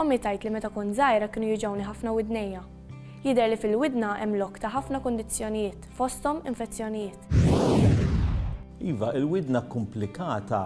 Ommi tgħid li meta kont żgħira kienu juġgħuni ħafna widnejja. Jidher li fil-widna hemm lok ta' ħafna kundizzjonijiet, fosthom infezzjonijiet. Iva, il-widna kkumplikata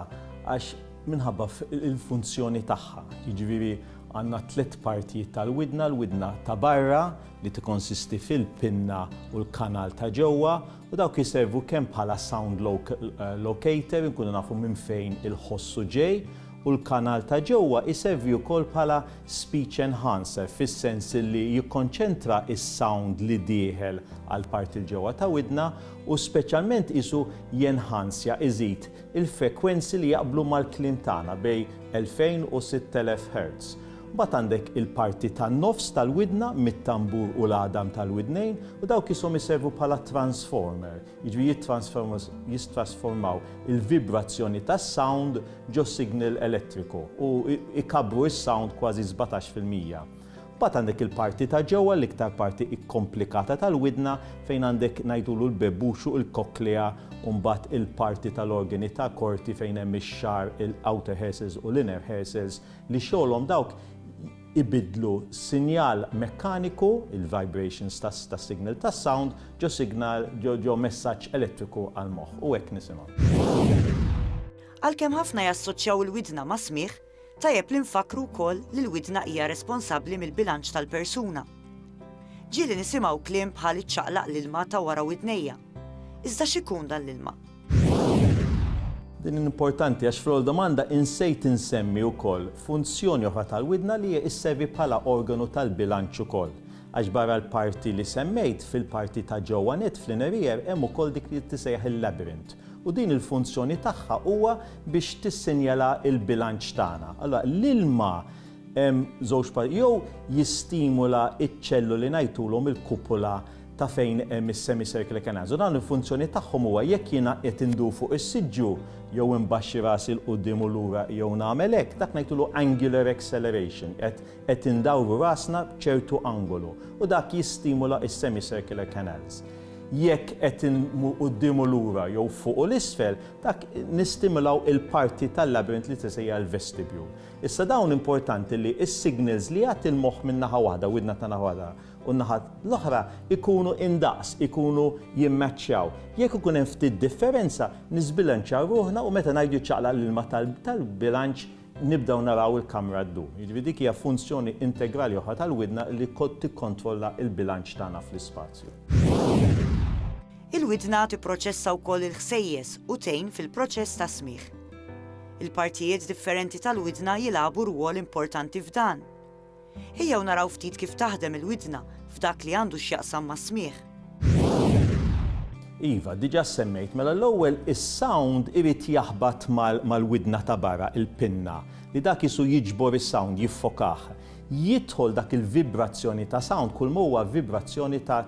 għax minħabba l-funzjoni tagħha. Jiġifieri għandna tliet partijiet tal-widna, l-widna ta' barra li tikkonsisti fil-pinna u l-kanal ta' ġewwa, U dawk jiservu kemm bħala sound locator, inkunu nafu minn fejn il-ħossu ġej, u l-kanal ta' ġewwa jservi wkoll bħala speech enhancer fis-sens li jikkonċentra s-sound li dieħel għall-parti 'l ġewwa ta' widna u speċjalment qisu jenhanzja, iżid, il-frekwenzi li jaqblu mal-kliem tagħna bejn 2000 u 6000 Hertz. Mbagħad għandek il-parti tan-nofs tal-widna mit-tambur u l-għadam tal-widnejn u dawk qishom iservu bħala transformer, jiġifieri jittransformers jistrasformaw il-vibrazzjoni tas-sound ġo signal elettriku u ikabbru s-sound kważi sbatax fil-mija. Mbagħad għandek il-parti ta' ġewwa, l-iktar parti ikkomplikata tal-widna fejn għandek ngħidulu l-bebbux u l-cochlea u mbagħad il-parti tal-organi ta' korti fejn hemm ix-xagħar, il-outer hair cells u l-inner hair cells, li xogħolhom dawk ibiddlu sinjal mekkaniku, il-vibrations tas-signal tas-sound, ġo signal, ġo messaġġ elettriku għall-moħħ. U hekk nisimgħu. Għalkemm ħafna jassoċċjaw il-widna mas-smigħ, tajjeb li nfakkru wkoll li l-widna hija responsabbli mill-bilanċ tal-persuna. Ġieli nisimgħu kliem bħal iċċaqlaq l-ilma ta' wara widnejja. Iżda x'ikun dan l-ilma? Din importanti għax fl-ewwel domanda insejt insemmi wkoll funzjoni oħra tal-widna li hija sservi bħala organu tal-bilanċ ukoll. Għax barra l-parti li semmejt, fil-parti ta' ġewwa nett fl-inner ear hemm ukoll dik li tisejjaħ il-labyrinth u din il-funzjoni tagħha huwa biex tissinjala l-bilanċ tagħna. Allura l-ilma hemm żewġ jew jistimula ċ-ċelluli ngħidulhom il-kupula ta' fejn hemm is-semicircle canals u dawn il-funzjoni tagħhom huwa jekk jiena qed indur fuq is-siġġu jew imbaxxi rasi 'l quddiem u lura jew nagħmel hekk, dak ngħidulu angular acceleration, qed qed indawru rasna b'ċertu angolu u dak jistimula s-semicircular canals. Jekk qed inmur quddiem u lura jew fuq u 'l isfel, dak nistimulaw il-parti tal-labyrinth li tisejjaħ il-vestibule. Issa dawn importanti li s-signals li jagħti l-moħħ minn naħa waħda, widna ta' naħa waħda, u n-naħa l-oħra jkunu indaqs, ikunu jimmaċċjaw. Jekk ikun hemm ftit differenza, niżbilanċjaw ruħna u meta ngħidu jċaqlaq l-ilma tal-bilanċ nibdew naraw il-kamra ddur. Jiġifieri dik hija funzjoni integrali oħra tal-widna li tikkontrolla l-bilanċ tagħna fl-ispazju. Il-widna tipproċessa wkoll il-ħsejjes u tgħin fil-proċess tas-smigħ. Il-partijiet differenti tal-widna jilagħbu rwol importanti f'dan. Ejjew naraw ftit kif taħdem il-widna f'dak li għandu x'jaqsam mas-smigħ. Iva, diġà ssemmejt, mela l-ewwel is-sound irid jaħbat mal-widna ta' barra, il-pinna, li dak qisu jiġbor is-sound, jiffokah. Jidħol dak il-vibrazzjoni ta' sound kulma huwa vibrazzjoni ta'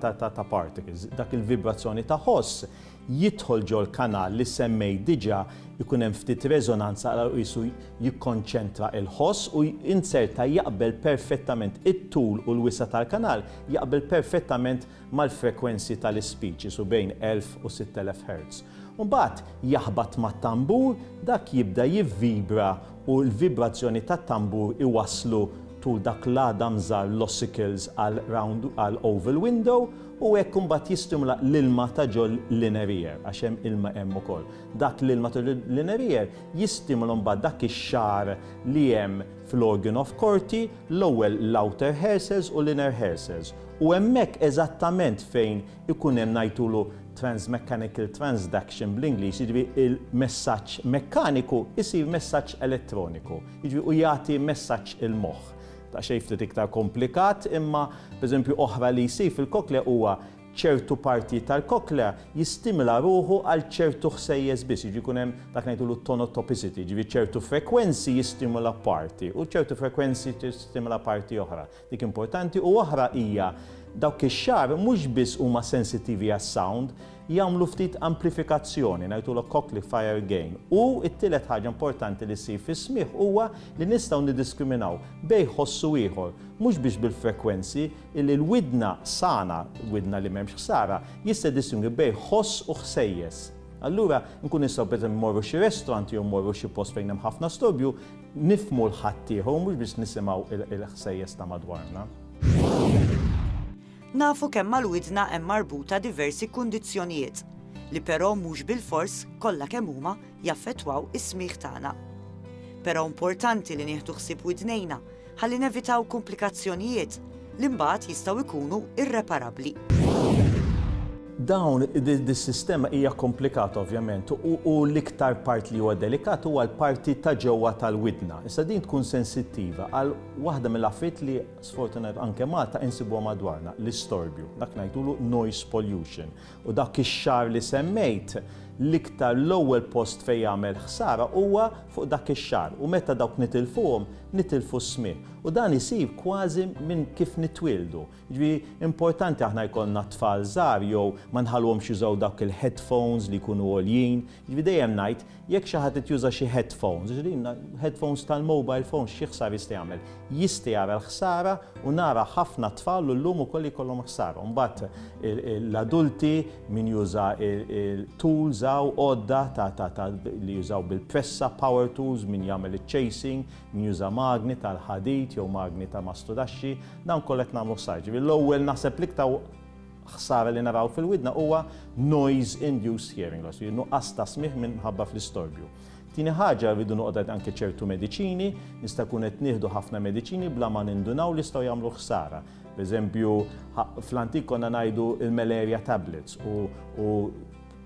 particles, dak il-vibrazzjoni ta' ħoss jidħol ġol-kanal li semmejt diġà jkun hemm ftit reżonanza għal qisu jikkonċentra l-ħoss u inzerta jaqbel perfettament it-tul u l-wisa' tal-kanal jaqbel perfettament mal-frekwenzi tal-ispeech qisu bejn 1000 u 6000 Hertz u mbagħad jaħbat mat-tambur dak jibda jivvibra u l-vibrazzjoni tat-tambur iwasslu tul dak l-għadam żgħar l-ossicles għal round għal oval window U hekk imbagħad jistimula l-ilma ta' ġol l-inerier, għax hemm ilma hemm ukoll. Dak l-ilma ta' ġol l-inerier jistimula mbagħad dak ix-xagħar li hemm fl-organ of Corti, l-ewwel l-outer hair cells u l-inner hair cells. U hemmhekk eżattament fejn ikun hemm ngħidulu transmechanical transduction bl-Ingliż, jiġifieri l-messaġġ mekkaniku jsir messaġġ elettroniku, jiġifieri u jagħti messaġġ il-moħħ. ta' xejn ftit iktar komplikat, imma pereżempju oħra li jsir fil-koklea huwa ċertu partijiet tal-koklea jistimila ruħu għal ċertu ħsejjes biss, jiġri jkun hemm dak ngħidulu tonotopicity, jiġifieri ċertu frekwenzi jistimula parti u ċertu frekwenzi tistimula parti oħra. Dik importanti u oħra hija dawk ix-xagħar mhux biss huma sensittivi għas-sound, jagħmlu ftit amplifikazzjoni, ngħidulha cochlear fire gain, u t-tielet ħaġa importanti li ssir fis-smigħ huwa li nistgħu niddiskriminaw bejn ħoss u ieħor, mhux biss bil-frekwenzi, illi l-widna sana, widna li m'hemmx ħsara, jista' jiddistingwi bejn ħoss u ħsejjes. Allura, nkunu nistgħu pereżempju mmorru xi restaurant jew mmorru xi post fejn hemm ħafna storbju, nifhmu l-ħaddieħor u mhux biss nisimgħu l-ħsejjes ta' madwarna. Nafu kemm mal-widna hemm marbuta diversi kundizzjonijiet, li però mhux bilfors, kollha kemm huma, jaffettwaw is-smigħ tagħna. Però importanti li nieħdu ħsieb widnejna ħalli nevitaw kumplikazzjonijiet li mbagħad jistgħu jkunu irreparabbli. Dawn, dis-sistema hija komplikata ovvjament u l-iktar part li huwa delikat huwa l-parti ta' ġewwa tal-widna. Issa din tkun sensittiva għal waħda mill-affarijiet li Sfortunatament anke Malta insibuha madwarna, l-istorbju, dak ngħidulu noise pollution. U dak ix-xahar li semmejt, l-iktar l-ewwel post fejn jagħmel ħsara huwa fuq dak ix-xahar u meta dawk nitilfuhom, nitilfu s-smigħ. U dan isir kważi minn kif nitwieldu. Jiġifieri importanti aħna jkollna t-tfal żgħar jew ma nħalluhomx jużaw dawk il-headphones li jkunu għoljin, Jiġifieri dejjem ngħid, jekk xi ħadd qed juża xi headphones, jiġifieri headphones tal-mobile phones xi ħsara jista' jagħmel? Jista' jara l-ħsara u nara ħafna tfal u llum ukoll li jkollhom ħsara. U mbagħad l-adulti, min juża tools hawn, għodda ta' li jużaw bil-pressa, power tools, min jagħmel iċ-chasing, min juża magni tal-ħadid jew magni ta' mastudaxxi, dawn kollha qed nagħmlu ħsara. Jiġifieri l-ewwel naħseb l-iktar ħsara li naraw fil-widna huwa noise-induced hearing loss, jiġifieri nuqqas ta' smigħ minħabba fl-istorbju. Tieni ħaġa rridu noqgħod għad anke ċertu mediċini, nista' jkun qed nieħdu ħafna mediċini bla ma nindunaw li jistgħu jagħmlu ħsara. Pereżempju, fl-antik konna ngħidu il-malaria tablets u u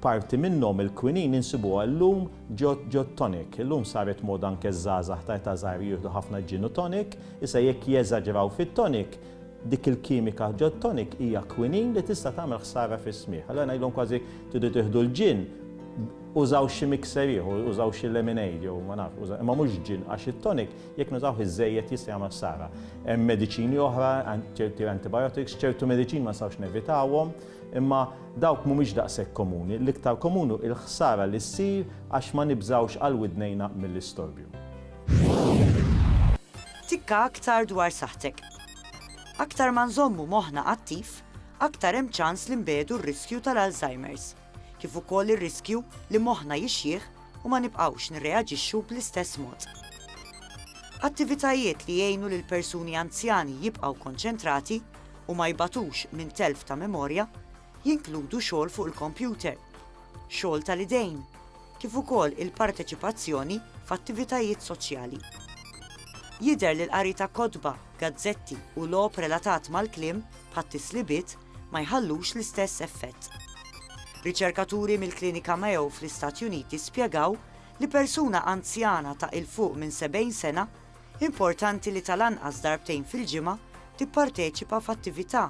parti minnhom il-kwinin insibuha llum ġod ġod tonic. Illum saret moda anke żgħażagħ ta' età żgħira jieħdu ħafna gin u tonic, issa jekk jeżaġraw fit-tonic Dik il-kimika ġod tonic hija kwinin li tista' tagħmel ħsara fis-smigħ. Allura ngħidilhom kważi tridu tieħdu l-ġinn, użaw xi mixer ieħor, użaw xi lemonade jew ma nafx, użaw, imma mhux ġinn għax it-tonic jekk nużawh iżżejjed jista' jagħmel ħsara. Hemm mediċini oħra, ċerti antibiotics, ċertu mediċini ma nistgħux nevitawhom, imma dawk mhumiex daqshekk komuni. L-iktar komun hu l-ħsara li ssir għax ma nibżgħux għal widnejna mill-istorbju. Tikka aktar dwar saħħtek. Aktar ma nżommu moħħna attiv, aktar hemm ċans li nbiegħdu r-riskju tal-Alzheimer's, kif ukoll ir-riskju li moħħna jixjieħ u ma nibqgħux nirreaġixxu bl-istess mod. Attivitajiet li jgħinu lil persuni anzjani jibqgħu konċentrati u ma jbatux minn telf ta' memorja jinkludu xogħol fuq il-kompjuter, xogħol tal-idejn, kif ukoll il-parteċipazzjoni f'attivitajiet soċjali. Jidher li l-qari ta' kotba, gazzetti u logħob relatat mal-kliem, bħat-tislibiet, ma jħallux l-istess effett. Riċerkaturi mill-Klinika Mayo fl-Istati Uniti spjegaw li persuna anzjana ta' 'il fuq minn 70 sena importanti li tal-anqas darbtejn fil-ġimgħa tipparteċipa f'attività